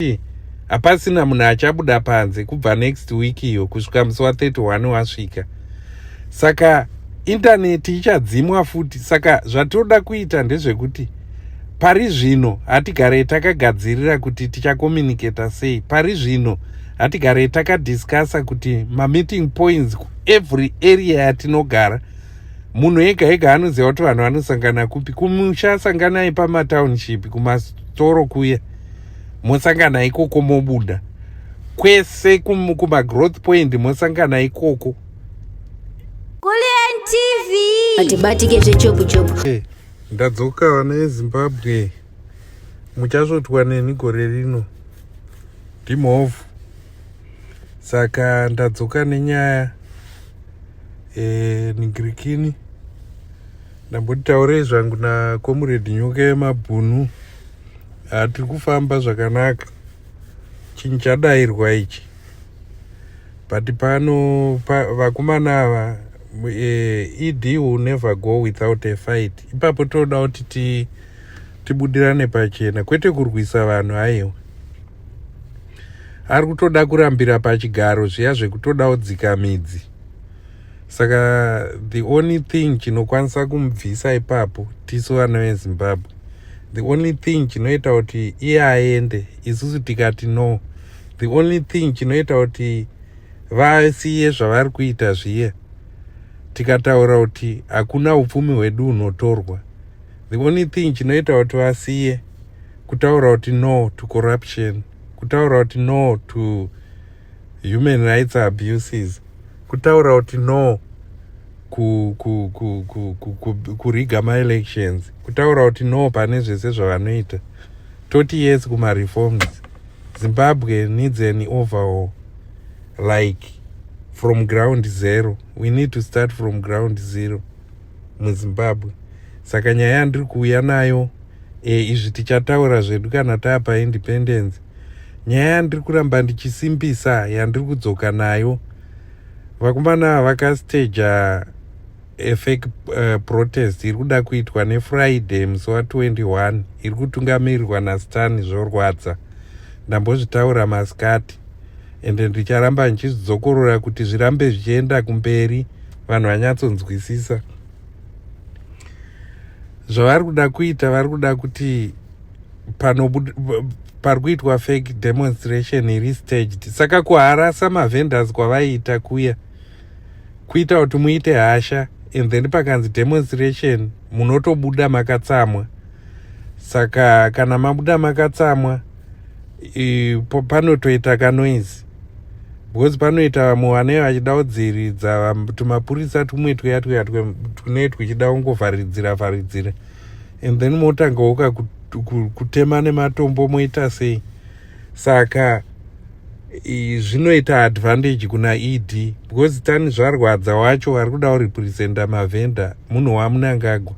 kuti hapasina munhu achabuda panze kubva next week iyo kusvika musi wa 31 wasvika saka intaneti ichadzimwa futi saka zvatinoda kuita ndezvekuti pari zvino hatigare takagadzirira kuti tichakomuniketa sei pari zvino hatigare takadiscussa kuti mameeting points kuevery area yatinogara munhu ega ega anoziva kuti vanhu vanosangana kupi kumusha sanganai pamatownship kumastoro kuya mosangana ikoko mobuda kwese kumagrowth point mosangana ikoko atibatike zvechobuchobu hey, eh, ndadzoka vana yezimbabwe muchasvotwa neni gore rino ndimhovhu saka ndadzoka nenyaya e, eh, nigirikini ndambotitaurei zvangu nakomuredi nyoka yemabhunu ah, tiri kufamba zvakanaka chinhu chadairwa ichi but pano pa, vakomana ava uh, eh, ed will never go without a fight ipapo tinoda kuti ti, tibudirane pachena kwete kurwisa vanhu aiwa ari kutoda kurambira pachigaro zviya zvekutoda odzika midzi saka the only thing chinokwanisa kumubvisa ipapo tisu vana vezimbabwe the only thing chinoita kuti iye aende isusu tikati no the only thing chinoita kuti vasiye zvavari kuita zviye tikataura kuti hakuna upfumi hwedu hunotorwa the only thing chinoita kuti vasiye kutaura kuti no to corruption kutaura kuti no to human rights abuses kutaura kuti no kuriga maelections kutaura kuti no pane zvese zvavanoita toti yes kumareforms zimbabwe needs an overall like from ground zero we need to start from ground zero muzimbabwe saka nyaya yandiri kuuya nayo e, izvi tichataura zvedu kana taapa independence nyaya yandiri kuramba ndichisimbisa yandiri kudzoka nayo vakomana vakastaja efec eh, protest iri kuda kuitwa nefriday musi wa 21 iri kutungamirirwa nastani zvorwadza ndambozvitaura masikati ende ndicharamba ndichizvidzokorora kuti zvirambe zvichienda kumberi vanhu vanyatsonzwisisa zvavari kuda kuita vari kuda kuti pari kuitwa fake demonstration iri staged saka kuharasa mavendors kwavaiita kuya kuita kuti muite hasha and then pakanzi demonstration munotobuda makatsamwa saka kana mabuda makatsamwa panotoita kanoizi because panoita vamwe vanee vachida kudziridza tumapurisa tumwe tuya tuya tunee twuchida kungovharidzira vharidzira and then motanga woka kutema nematombo moita sei saka zvinoita advantage kuna ed because tani zvarwadza wacho vari kuda kurepresenta mavhenda munhu wamunangagwa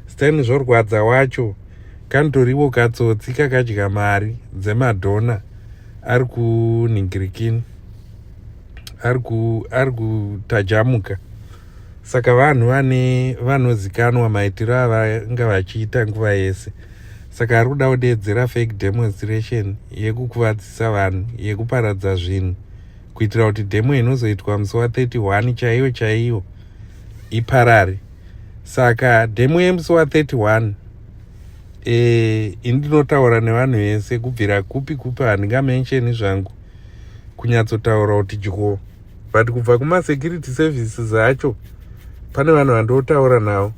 Stan zvorwadza wacho kanitoriwo katsotsi kakadya mari dzemadhona ari kuningirikini ari kutajamuka saka vanhu vane vanozikanwa maitiro avanga vachiita nguva yese saka ari kuda kudeedzera fake demonstration yekukuvadzisa vanhu yekuparadza zvinhu kuitira kuti demo inozoitwa musi wa 31 chaiyo chaiyo iparare saka demo yemusi wa 31 eh, ini ndinotaura nevanhu vese kubvira kupi kupi handingamensheni zvangu kunyatsotaura kuti dyo but kubva kumasecurity services acho pane vanhu vandotaura navo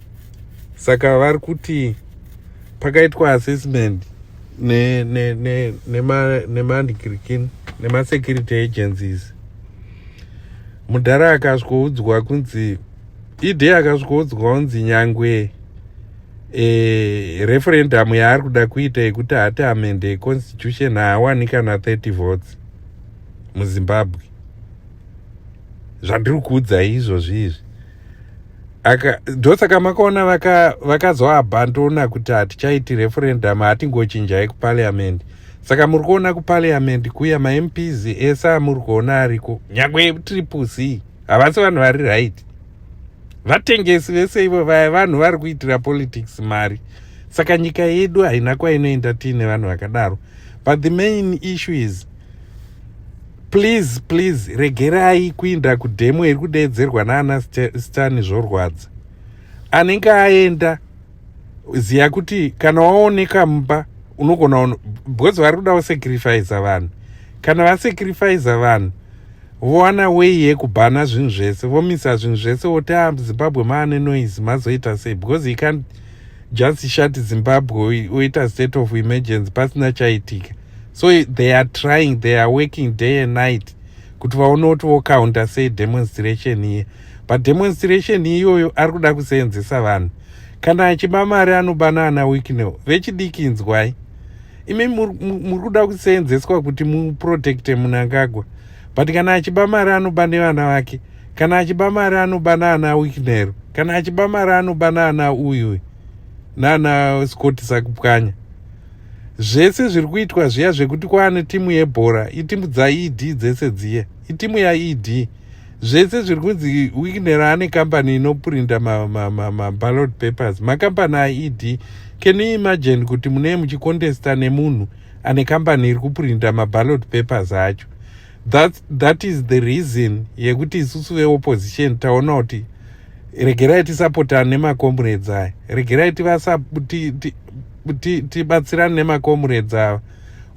saka vari kuti pakaitwa assessment nemandikirikini ne, ne, ne nemasecurity agencies mudhara akasvoudzwa kunzi idhe akasvikodzwa unzi nyangwe e, referendum yaari kuda kuita yekuti hati amende econstitution haawani kana 30 votes muzimbabwe zvandiri kuudzai izvozvi izvi aka ndosaka makaona vakazoabhandona vaka kuti hatichaiti referendum hatingochinjai kupariament saka muri kuona kupariament kuya mamps ese amuri kuona ariko nyangwe triple c havasi vanhu vari right vatengesi vese ivo vaya vanhu vari kuitira politics mari saka nyika yedu haina kwainoenda tiine vanhu vakadaro but the main issue is please please regerai kuinda kudhemo iri kudeedzerwa naana stani zvorwadza anenge aenda ziya kuti kana waoneka mumba unogona because vari kuda kusacrifiza vanhu kana vasacrifiza vanhu vowana wei yekubhana zvinhu zvese vomisa zvinhu zvese woti a ah, zimbabwe maane noise mazoita sei because he can't just shut zimbabwe oita state of emergency pasina chaitika so they are trying they are working day and night kuti vaone kuti vocounter sei demonstration iye pademonstration iyoyo ari kuda kuseenzesa vanhu kana achiba mari anoba naana wicknel vechidiki inzwai imi muri kuda kuseenzeswa kuti muprotecte munangagwa but kana achiba mari anoba nevana vake kana achiba mari anoba naana wicknel kana achiba mari anoba naana uyuy naana scott sakupwanya zvese zviri kuitwa zviya zvekuti kwaane timu yebhora itimu dzaed dzese dziya itimu yaed zvese zviri kunzi wigner ane kambani inoprinda maballot papers makambani aed can you imagine kuti munee muchikontesta nemunhu ane kambani iri kuprinda maballot papers acho that, that is the reason yekuti isusu veopposition taona kuti regerai tisapotane nemacomrades aya regerai tibatsirane nemacomrades ava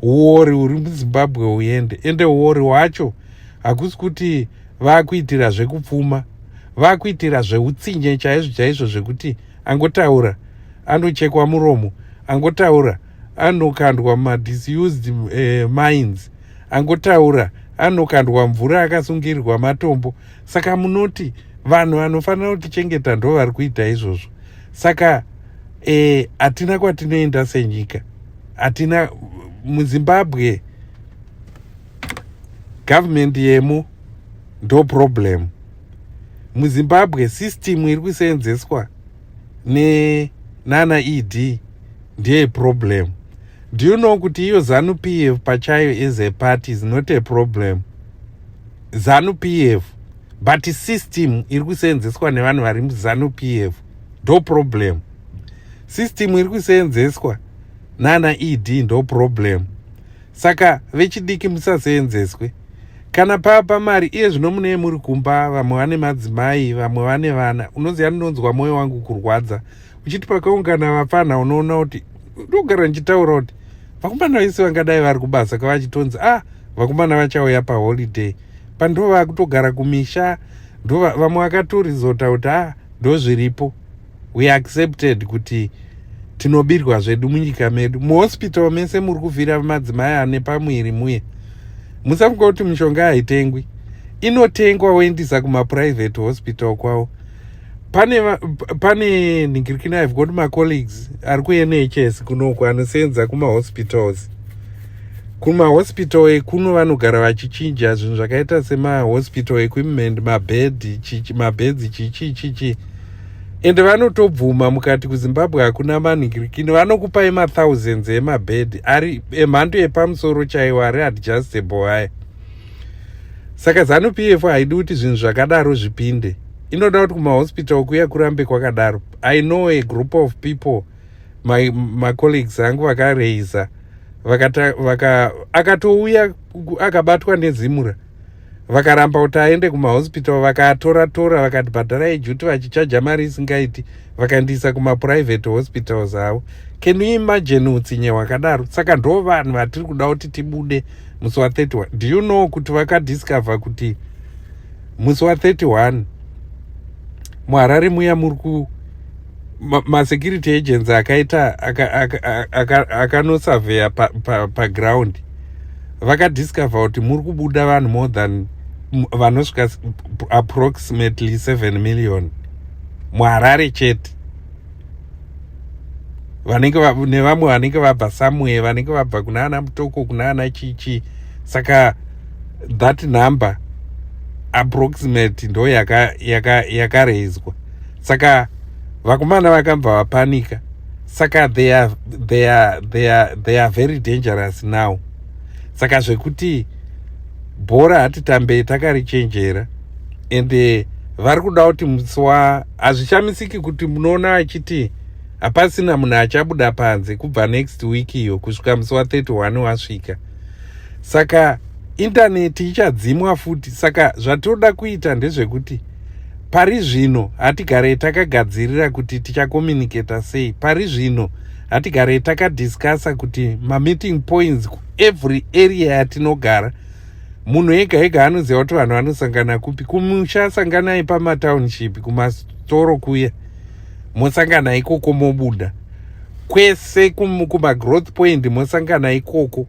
uori uri muzimbabwe uende ende uori wacho hakusi kuti vakuitira zvekupfuma vakuitira zveutsinye chaizvo chaizvo zvekuti angotaura anochekwa muromo angotaura anokandwa madisused uh, eh, minds angotaura anokandwa mvura akasungirirwa matombo saka munoti vanhu vanofanira kutichengeta ndo vari kuita izvozvo saka eh, hatina e, kwatinoenda senyika hatina muzimbabwe government yemo ndo problem muzimbabwe system iri kuseenzeswa ne nana ed ndiye problem do you know kuti iyo zanu p f pachayo as a party is not a problem zanu p f but system iri kuseenzeswa nevanhu vari muzanu p f ndo problem system iri kuseenzeswa nana ed ndo problem saka vechidiki musaseenzeswe kana papa mari iye zvino munee muri kumba vamwe vane madzimai vamwe vane vana unoziva ndinonzwa mwoyo wangu kurwadza uchiti pakaungana vapfanha unoona kuti ndogara ndichitaura kuti vakomana vese vangadai vari kubasa kavachitonzi a ah, vakomana vachauya paholiday pandova kutogara kumisha ndova vamwe vakatorizota kuti a ah, ndozviripo we accepted kuti tinobirwa zvedu munyika medu muhospital mese muri kuvhira madzimai ane pamwiri muye musafunga kuti mishonga haitengwi inotengwa woendisa kumaprivate hospital kwavo pane pane nhingirikina i've got macolleagues ari kunhs kunoku anosenza kumahospitals kumahospital ekuno vanogara vachichinja zvinhu zvakaita semahospital equipment mabed mabeds chichichichi chichi ende vanotobvuma mukati kuzimbabwe hakuna manhikirikini vanokupai mathousands emabhedhi ari emhando yepamusoro chaiwo ari adjustable aya saka zanu p f haidi kuti zvinhu zvakadaro zvipinde inoda kuti kumahospital kuya kurambe kwakadaro i know a group of people my macolleagues angu vakareiza vaka akatouya akabatwa nezimura vakaramba kuti aende kumahospital vakaatora tora vakati bhadharai juti vachichaja mari isingaiti vakandiisa kumaprivate hospitals avo can you imagine utsinye hwakadaro saka ndo vanhu vatiri kuda kuti tibude musi wa 31 do you know kuti vakadiscover kuti musi wa 31 muharare muya muri ku masecurity agents akaita akanosurveya paground vakadiscover kuti muri kubuda vanhu more than vanosvika approximately 7 million muharare chete vanenge nevamwe vanenge vabva somewhere vanenge vabva kuna ana mutoko kuna ana chichi saka that number approximate ndo yakarezwa yaka, yaka saka vakomana vakabva vapanika saka they are, they are, they are, they are very dangerous now saka zvekuti bhora hatitambei takarichenjera and eh, vari kuda kuti musi wa hazvishamisiki kuti munoona achiti hapasina munhu achabuda panze kubva next week iyo kusvika musi wa 31 wasvika saka intaneti ichadzimwa futi saka zvatinoda kuita ndezvekuti pari zvino hatigarei takagadzirira kuti tichakomunicata sei pari zvino hatigarei takadiscussa kuti mameeting points kuevery area yatinogara munhu ega ega anoziva kuti vanhu vanosangana kupi kumusha sanganai pamatownship kumastoro kuya mosangana ikoko mobuda kwese kumagrowth point mosangana ikoko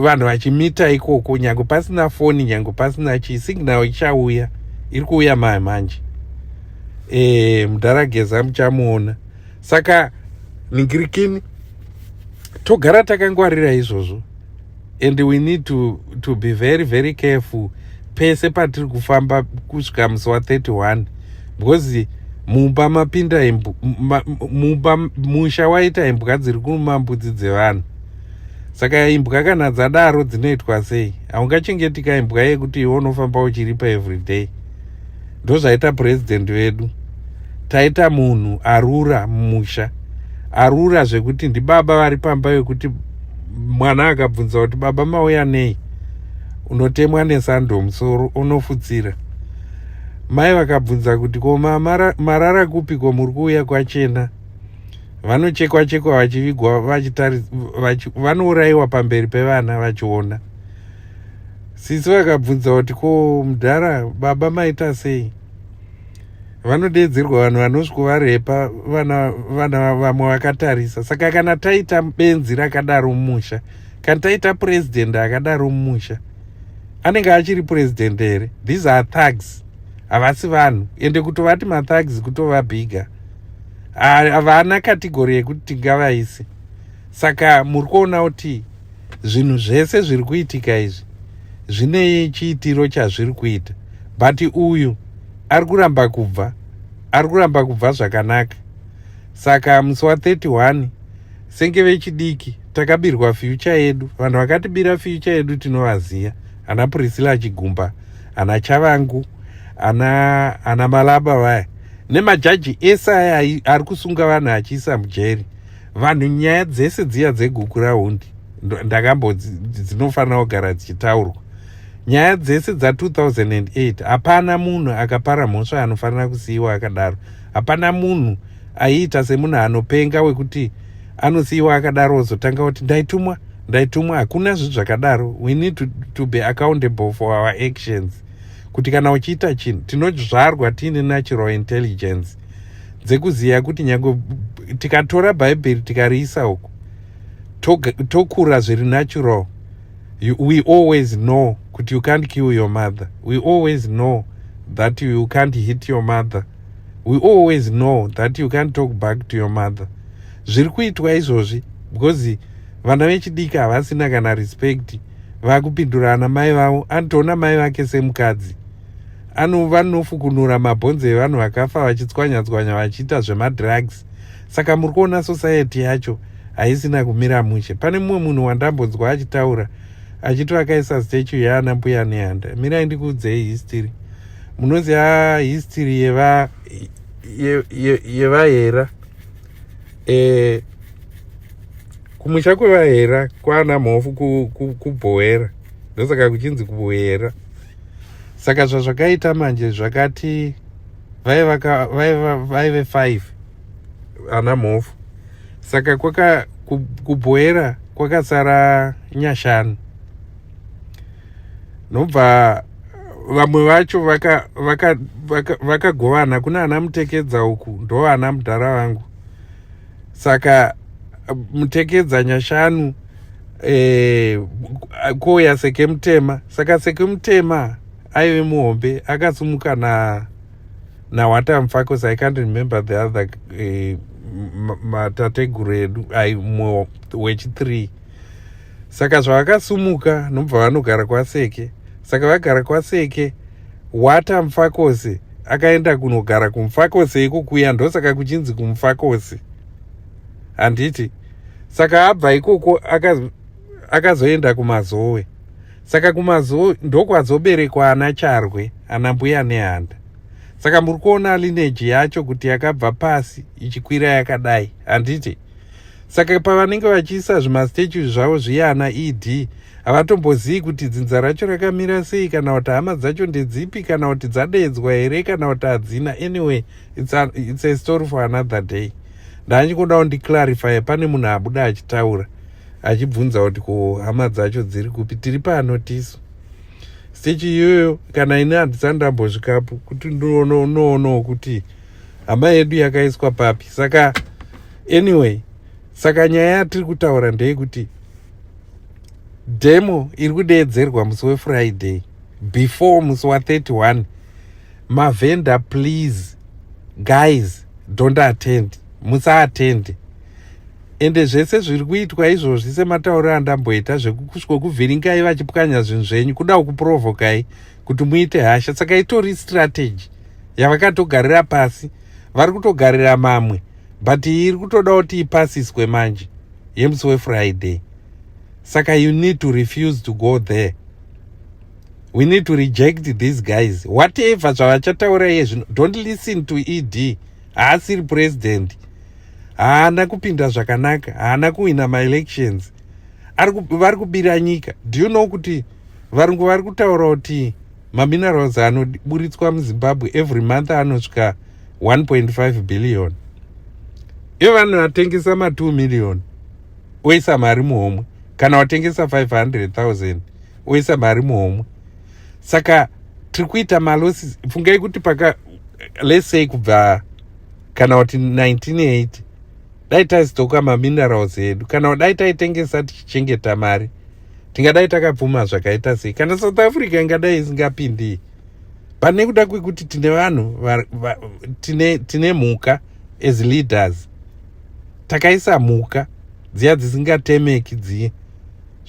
vanhu vachimita ikoko nyange pasina foni nyange pasina chii signal ichauya iri kuuya maye manje e, mudhara geza muchamuona saka ningirikini togara takangwarira izvozvo and we need to, to be very very careful pese patiri kufamba kusvika musi wa 31 because mumba mapinda imbwa mumba musha waita imbwa dziri kuruma mbudzi dzevanhu saka imbwa kana dzadaro dzinoitwa sei haungachengetika imbwa yekuti iwe unofamba uchiripa everyday ndozvaita purezidendi vedu taita munhu arura mumusha arura zvekuti ndibaba vari pamba vekuti mwana akabvunza kuti baba mauya nei unotemwa nesando musoro unofutsira mai vakabvunza kuti ko mama marara kupi ko muri kuuya kwachena vanochekwa chekwa vachivigwa vanourayiwa pamberi pevana vachiona sisi vakabvunza kuti ko mudhara baba maita sei vanodeedzerwa vanhu vanosvikovarepa vana vamwe vakatarisa saka kana taita benzi rakadaro mumusha Can taita president akadaro mumusha anenge achiri president here these are thugs havasi vanhu ende kutovati mathugs kutova bigger havana kategori yekuti tingavaisi saka muri kuona kuti zvinhu zvese zviri kuitika izvi zvine chiitiro chazviri kuita but uyu ari kuramba kubva ari kuramba kubva zvakanaka saka musi wa 31 senge vechidiki takabirwa fyucha yedu vanhu vakatibira fyucha yedu tinovaziva ana priscilla achigumba ana chavangu ana ana malaba vaya nemajaji ese aya ari kusunga vanhu achiisa mujeri vanhu nyaya dzese dziya dzeguku rahundi ndakambo dzinofanira kugara dzichitaurwa nyaya dzese dza 2008 hapana munhu akapara mhosva anofanira kusiyiwa akadaro hapana munhu aiita semunhu anopenga wekuti anosiiwa akadaro ozotanga kuti ndaitumwa ndaitumwa hakuna zvinhu zvakadaro we need to, to be accountable for our actions kuti kana uchiita chinhu tinozvarwa tiine natural intelligence dzekuziva kuti nyange tikatora bhaibheri tikariisa uku tokura zviri natural you, we always know kuti you can't kill your mother we always know that you, you can't hit your mother we always know that you can't talk back to your mother zviri kuitwa izvozvi because vana vechidiki havasina kana respect vakupindura ana mai vavo anotoona mai vake semukadzi vanofukunura mabhonzo evanhu vakafa vachitswanyatswanya vachiita zvemadrugs saka muri kuona society yacho haisina kumira mushe pane mumwe munhu wandambonzwa achitaura achito akaisa statue yaana mbuya nehanda mirai ndikuudzei history munoziva history yeva yevahera ye, ye e, kumusha kwevahera kwana mhofu kubhoera ndosaka kuchinzi kuboera saka zvazvakaita manje zvakati vaive five ana mhofu saka kwaka kubhoera kwakasara nyashanu nobva vamwe vacho vakagovana vaka, kuna ana mutekedza uku ndovana mudhara vangu saka mutekedza nyashanu eh, kouya sekemutema saka sekemutema aive muhombe akasumuka na Now what I'm focus, I can't remember the other uh, matateguru edu ai mumwe wechithree saka zvavakasumuka nobva vanogara kwaseke saka vagara kwaseke wata mfakosi akaenda kunogara kumfakosi ikukuya ndosaka kuchinzi kumfakosi handiti saka abva ikoko aka akazoenda kumazowe saka kumazowe ndokwazoberekwa ana charwe ana mbuya nehanda saka muri kuona lineji yacho kuti yakabva pasi ichikwira yakadai handiti saka pavanenge vachiisa zvimastatue zvavo zviyana ed havatombozivi kuti dzinza racho rakamira sei kana kuti hama dzacho ndedzipi kana kuti dzadeedzwa here kana kuti hadzina anyway it's a, it's a story for another day ndanyingodawo ndiclarifye pane munhu abuda achitaura achibvunza kuti ko hama dzacho dziri kupi tiri pano tisu stechi iyoyo kana ini handisani ndambosvikapo kuti ndinoonawo kuti hama yedu yakaiswa papi saka anyway saka nyaya yatiri kutaura ndeyekuti demo iri kudeedzerwa musi wefriday before musi wa31 mavhenda please guys don't attend musaattende ende zvese zviri kuitwa izvozvi sematauriro andamboita zvekukuvhiringai vachipwanya zvinhu zvenyu kuda kukuprovokai kuti muite hasha saka itori strategy yavakatogarira pasi vari kutogarira mamwe but iyi iri kutoda kuti ipasiswe manje yemusi wefriday saka you need to refuse to go there we need to reject these guys whatever zvavachataura iye zvino don't listen to ed haasiri president haana kupinda zvakanaka haana kuhwina maelections vari kubira nyika do you know kuti varungu vari kutaura kuti maminerals anoburitswa muzimbabwe every month anosvika 1.5 billion ivo vanhu vatengesa ma2 million oisa mari muhomwe kana watengesa 500 000 oisa mari muhomwe saka tiri kuita malosis fungai kuti paka let's say kubva kana kuti 1980 dai taizotoka maminerals edu kana dai taitengesa tichichengeta mari tingadai takapfuma zvakaita sei kana south africa ingadai isingapindii but nekuda kwekuti tine vanhu tine, tine mhuka as leaders takaisa mhuka dziya dzisingatemeki dziye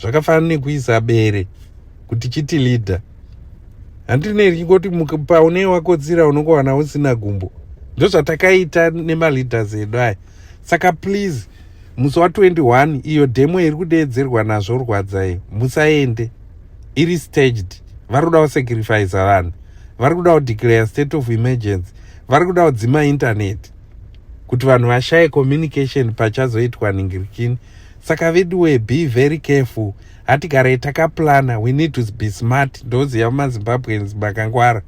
zvakafanana nekuisa bere kuti chiti leader handine richingoti paune wakotsira unongowana usina gumbo ndozvatakaita nemaleaders edu aya saka please musi wa 21 iyo demo iri kudeedzerwa nazvo rwadza iyo musaende iri staged vari kuda kusacrifice vanhu vari kuda kudeclare state of emergency vari kuda kudzima intaneti kuti vanhu vashaye communication pachazoitwa nhingirikini saka veduwe be very careful hatigare takaplana we need to be smart ndoziva mazimbabweans makangwara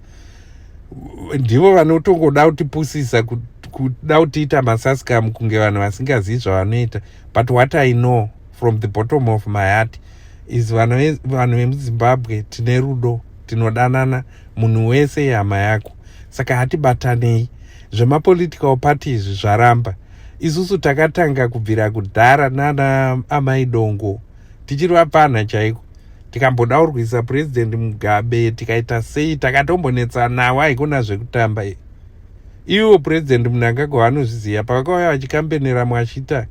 ndivo vanotongoda kutipusisa kuda kutiita masaskam kunge vanhu vasingazivi zvavanoita but what i know from the bottom of my heart is vanhu vemuzimbabwe tine rudo tinodanana munhu wese ihama yako saka hatibatanei zvemapolitical party izvi zvaramba isusu takatanga kubvira kudhara nana amai dongo tichiri vapfanha chaiko tikamboda kurwisa president mugabe tikaita sei takatombonetsa nawo haikona zvekutamba iwo president munangagwa vanozviziva pavakauya vachikambenera mwashita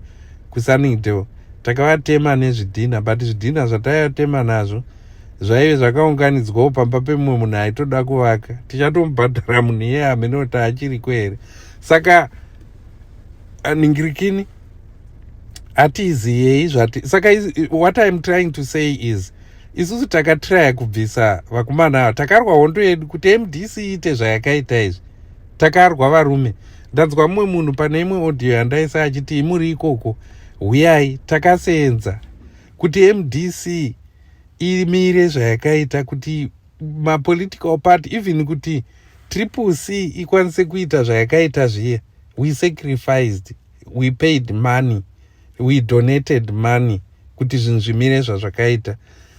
kusunningdale takavatema nezvidhina but zvidhina zvataivatema nazvo zvaive zvakaunganidzwawo pamba pemumwe munhu aitoda kuvaka tichatomubhadhara munhu iye hamene kuti achiriko here saka ningirikini hatiziyei zvati saka what iam trying to say is isusu takatraya kubvisa vakomana ava takarwa hondo yedu kuti mdc iite zvayakaita izvi takarwa varume ndanzwa mumwe munhu pane imwe audio yandaisa achiti imuri ikoko huyai takasenza kuti mdc imire zvayakaita kuti mapolitical party even kuti triple c ikwanise kuita zvayakaita zviye we sacrificed we paid money we donated money kuti zvinhu zvimire zvazvakaita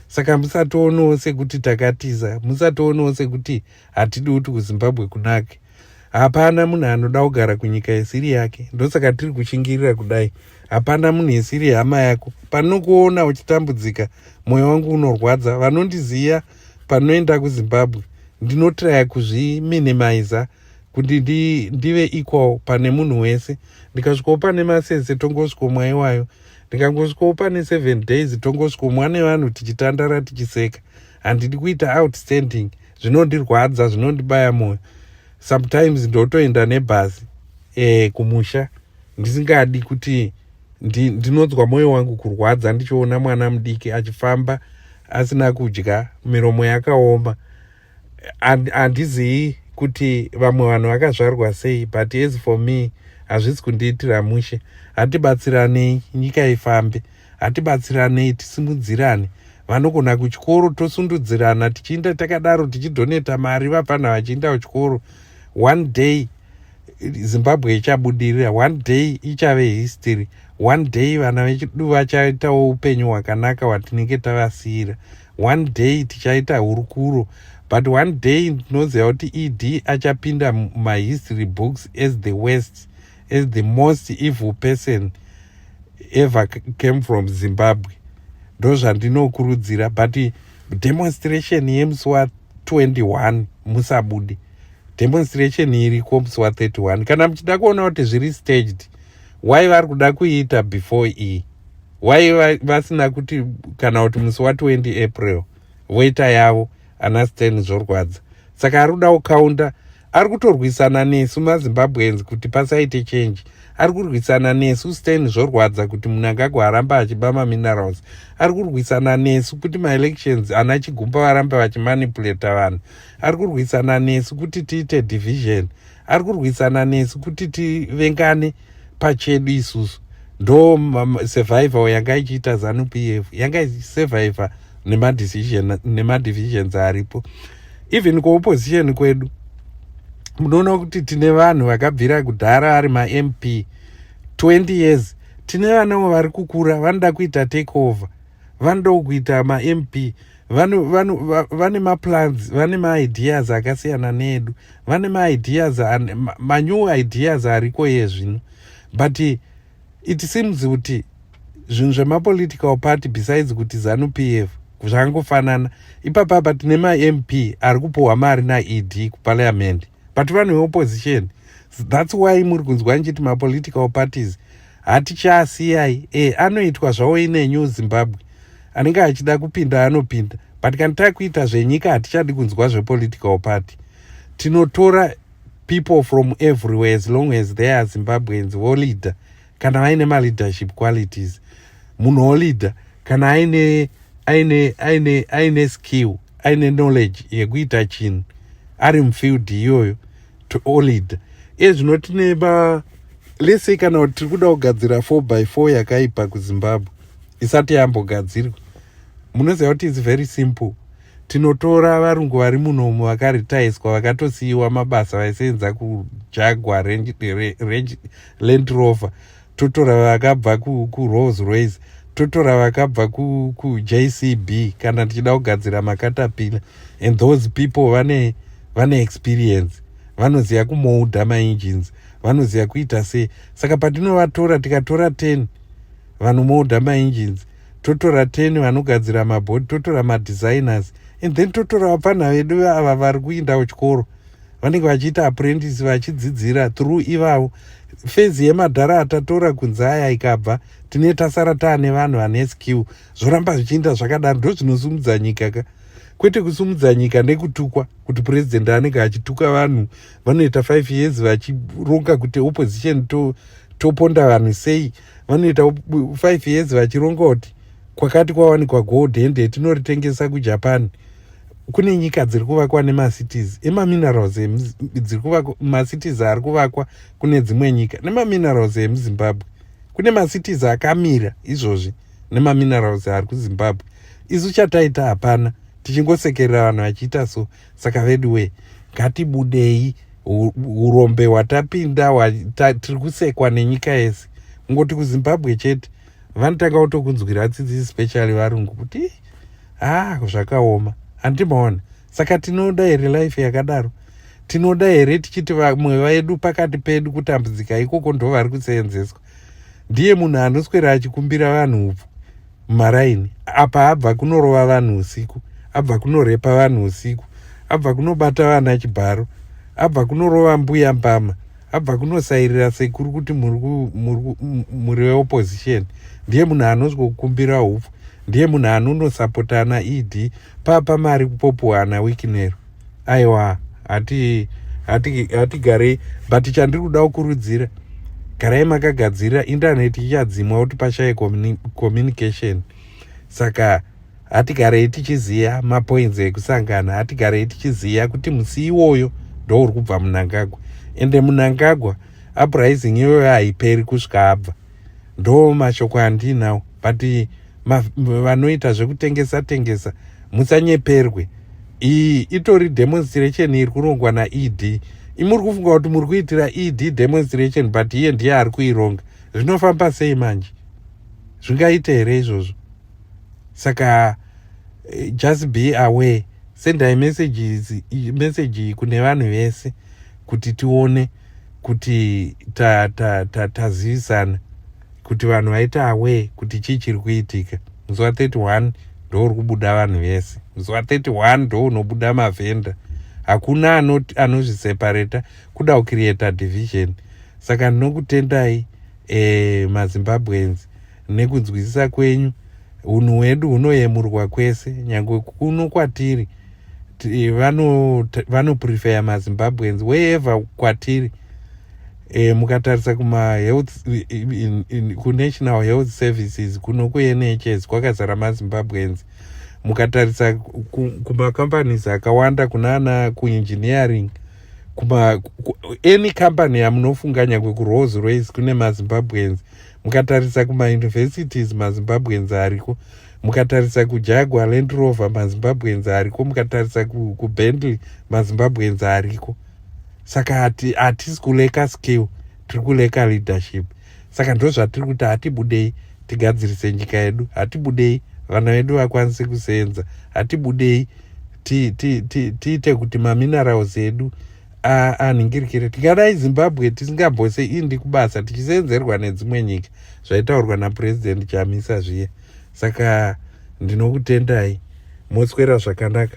saka musatoonewo sekuti takatiza musatoonewo sekuti hatidi kuti kuzimbabwe kunake hapana munhu anoda kugara kunyika isiri yake ndosaka tiri kushingirira kudai hapana munhu isiri hama yako panokuona uchitambudzika mwoyo wangu unorwadza vanondiziva panoenda kuzimbabwe ndinotiraya kuzviminimiza kuti ndi, ndive equal pane munhu wese ndikasvikawo pane masese tongosvikomwa iwayo ndikangosvikawo pane seven days tongosvikomwa nevanhu tichitandara tichiseka handidi kuita outstanding zvinondirwadza zvinondibaya moyo sometimes ndotoenda nebhazi e, kumusha ndisingadi kuti ndi, ndinonzwa moyo wangu kurwadza ndichiona mwana mudiki achifamba asina kudya miromo yakaoma handizii kuti vamwe vanhu vakazvarwa sei but as for me hazvisi kundiitira mushe hatibatsiranei nyika ifambe hatibatsiranei tisimudzirane vanogona kuchikoro tosundudzirana tichiinda takadaro tichidhoneta mari vapfanha vachiinda kuchikoro one day zimbabwe ichabudirira one day ichave history one day vana vechidu vachaitawo upenyu hwakanaka hwatinenge tavasiyira one day tichaita hurukuro but one day ndinoziva kuti ed achapinda mumahistory books as the west as the most evil person ever came from zimbabwe ndozvandinokurudzira but demonstration yemusi wa 21 musabude demonstration iriko musi wa 31 kana muchida kuona kuti zviri staged why vari kuda kuiita before iyi why vasina kuti kana kuti musi wa 20 april voita yavo ana stan zvorwadza saka ari kuda kukaunda ari kutorwisana nesu mazimbabweans kuti pasaite change ari kurwisana nesu stan zvorwadza kuti munangagwa aramba achiba maminerals ari kurwisana nesu kuti maelections ana chigumba varambe vachimanipulata vanhu ari kurwisana nesu kuti tiite division ari kurwisana nesu kuti tivengane pachedu isusu ndo survival yanga ichiita zanu p f yanga ichisurviva nemadivisions aripo even kuopposition kwedu munoona kuti tine vanhu vakabvira kudhara ari mamp 20 years tine vanawo vari kukura vanoda kuita take over vanoda kuita mamp vane maplans vane maideas akasiyana needu vane maideas manew ideas ariko iye zvino but it seems kuti zvinhu zvemapolitical party besides kuti zanu p f zvangofanana ipapapa tine mamp ari kupuhwa mari naed kupaliamendi but vanhu veopposition thats why muri kunzwa ndichiti mapolitical parties hatichaasiyai e anoitwa zvawo ine new zimbabwe anenge achida kupinda anopinda but kana takuita zvenyika hatichadi kunzwa zvepolitical party tinotora people from everywhere as long as they are zimbabweans voleader kana vaine maleadership qualities munhu oleader kana aine aine aine aine skill aine knowledge yekuita chinhu ari mufield iyoyo to oleader iye zvino tine ba lese kana kuti tiri kuda kugadzira 4 by 4 yakaipa kuzimbabwe isati yambogadzirwa munoziva kuti its very simple tinotora varungu vari munomu vakaritaiswa vakatosiyiwa mabasa vaisenza kujagwa land rover totora vakabva kurolls royce totora vakabva kujcb kana tichida kugadzira makatapila and those people vane vane experience vanoziva kumouda maengines vanoziva kuita sei saka patinovatora tikatora 10 vanomouda maengines totora 10 vanogadzira mabodi totora madesigners and then totora vapfanha vedu ava vari kuindawo chikoro vanenge vachiita apprentice vachidzidzira through ivavo fezi yemadhara atatora kunze aya ikabva tine tasara taane vanhu vane skill zvoramba zvichiinda zvakadaro ndozvinosumudza nyika ka kwete kusumudza nyika nekutukwa kuti purezidendi anenge achituka vanhu vanoita five years vachironga kuti opposition to, toponda vanhu sei vanoita five years vachironga kuti kwakati kwawanikwa gold hende tinoritengesa kujapan kune nyika dziri kuvakwa nemacities emaminerals dziri kuvakwa macities ari kuvakwa kune dzimwe nyika nemaminerals emuzimbabwe kune macities akamira izvozvi nemaminerals ari kuzimbabwe isu chataita hapana tichingosekerera vanhu vachiita so saka vedu wee ngatibudei urombe hwatapinda tiri kusekwa nenyika yese kungoti kuzimbabwe chete vanotanga kutokunzwira tsitsi especially varungu kuti ah zvakaoma handimaona saka tinoda here life yakadaro tinoda here tichiti vamwe vedu pakati pedu kutambudzika ikoko ndo vari kuseenzeswa ndiye munhu anoswera achikumbira vanhu upfu mumaraini apa abva kunorova vanhu usiku abva kunorepa vanhu usiku abva kunobata vana chibharo abva kunorova mbuya mbama abva kunosairira sekuru kuti muri veopposition ndiye munhu anozwokumbira hupfu ndiye munhu anonosapotana ed papa mari kupopuhana wikinero aiwa hatigarei but chandiri kuda kukurudzira garai makagadzirira indaneti ichadzimwa kuti pashaye communication saka hatigarei tichiziva mapoinzi ekusangana hatigarei tichiziva kuti musi iwoyo ndouri kubva munangagwa ende munangagwa uprising iyoyo haiperi kusvika abva ndo mashoko andiinawo but vanoita zvekutengesa tengesa musanyeperwe iyi itori demonstration iri kurongwa naed imuri kufunga kuti muri kuitira ed demonstration but iye ndiye ari kuironga zvinofamba sei manje zvingaite here izvozvo saka eh, just be aware sendai messages message kune vanhu vese kuti tione kuti tazivisana ta, ta, ta kuti vanhu vaita aware kuti chii chiri kuitika muzuva 31 ndouri kubuda vanhu vese muzuva 31 ndo unobuda mavhenda hakuna anozvisepareta ano kuda kucreata division saka ndinokutendai eh, mazimbabweans nekunzwisisa kwenyu unhu hwedu hunoyemurwa kwese nyange kuno kwatiri vanoprefeya vano mazimbabweans wherever kwatiri e, mukatarisa kumahealth kunational health services kuno kunhs kwakazara mazimbabweans mukatarisa kumacompanies akawanda kunana kuengineering kuma ku, any company yamunofunganya kwekurolls royce kune mazimbabweans mukatarisa kumauniversities mazimbabweans ariko mukatarisa kujagwa land rover mazimbabweans ariko mukatarisa kubentley mazimbabweans ariko saka hatisi kuleka skill tiri kuleka leadership saka ndo zvatiri kuti hatibudei tigadzirise nyika yedu hatibudei vana vedu vakwanise kuseenza hatibudei tiite kuti mamineraus edu aa ah, ah, nhingirikire tingadai zimbabwe tisingambose indi kubasa tichisenzerwa nedzimwe nyika zvaitaurwa napurezidendi chamisa zviye saka ndinokutendai moswera zvakanaka